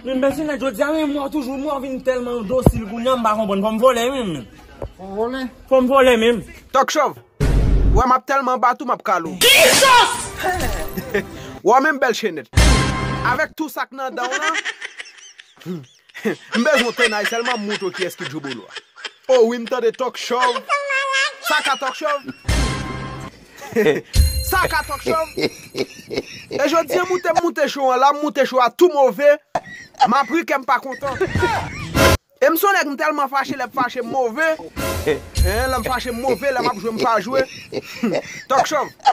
Min bèche nèt jodi a men mwen toujou mwen vin tèlman dosil kounye a m pa konprann fò m vole wi men. Fò w vole? Fò m vole men. Tòk chòv! Ou wè m ap tèlman bat ou m ap kale w. Jesus! Wè w menm bèche nèt. Avèk tou sa k nan dan w lan. M bezwen yon tennay selman m moutre w kiyes ki Jobolo a. Oh wi m tande talk chov. Sa ka talk chov? Sa ka talk chov? E jodi an moute m moute show an la m moute show a tou move map ri kèm pa kontan. E m son nèg m telman fache lè m fache m move. Lè m fache m move lè map jwe m pa jwe. Talk chov.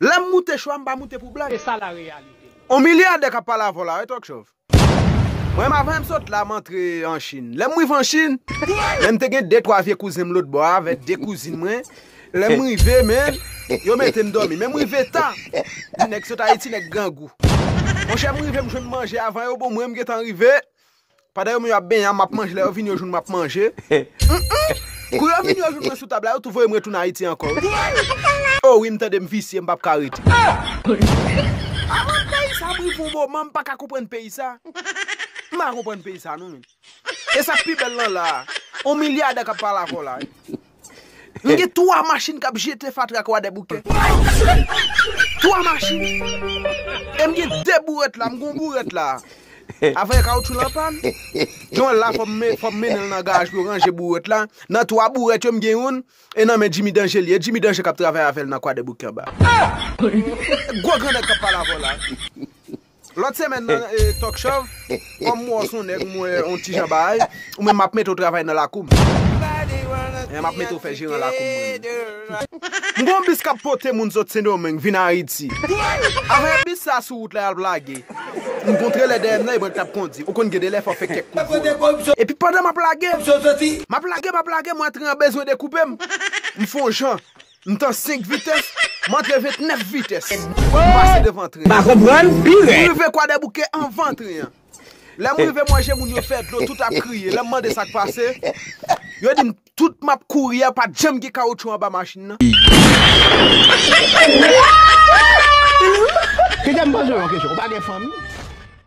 Lèm moute cho a m pa moute pou blag. On milyadè kap pale avè w la wi Tòk Chòv. Mwen menm avan m sot la m antre an Chine. Lèm rive an Chine, men m te gen de twa vye kouzen m lotbò a avè de kouzin mwen. Lèm rive men, yo mete m dòmi. Men m rive ta. Nèg sot Ayiti, nèg grangou. Monchè m rive m jwenn manje avan yo bon mwen m gentan rive. Pandan yo menm yo ap benyen an map manje lè yo vini yo jwenn mwen ap manje humm kou yo vini yo jwenn mwen sou tab la yo tou voyem retounen ayiti ankò humm oh wi m tande m visye m pap ka rete Avan peyi sa m rive yon moman m paka konprann peyi sa m paka konprann peyi sa non menn e sak pi bèl lan la on milyadè kap pale avèw la wi. Nou gen 3 machin kap jete fatra kwadèboukè. 3 machin. E m gen 2 bourèt la, m gen yon bourèt la. Avè kawoutchou lan pàn. Gen yon la fò m mennen l nan garaj pou yo ranje bourèt la. Nan 3 bourèt yo m gen youn e nan men Djimi Danje li ye. E Djimi Danje kap travay avè l nan kwadèboukè anba. Gwo grandèt kap pale avè w la. Lòt semèn nan Talk Shòv, kòm m wè w s on nèg m wè on ti jan baay, ou menm m ap mete w travay nan lakou m. Eeh m ap mete w fè jeran lakou m mwen menm. M gen on bis k ap pote moun sot Sendomeng vin Ayiti. Avan bis sa a sou wout la y al lage, m kontre lè dèyè m nan e mwen k t ap kondi. Ou konn gen de lè fò w fè kèk kout volan. Epi pandan m ap lage, m ap lage, m ap lage mwen antre an bezwen dekoupe m. M fon jan, M tan 5 vitès, m antre 29 vitès. M pase devan tren an. M rive Kwadèbouke anvan tren an. Lè m rive m wè je moun yo fè dlo tout ap kriye. Lè m mande sa k pase, yo di m tout m ap kouri a pa t janm gen kawotchou anba machin nan. Kite m poze w yon kesyon, ou pa gen fanmi?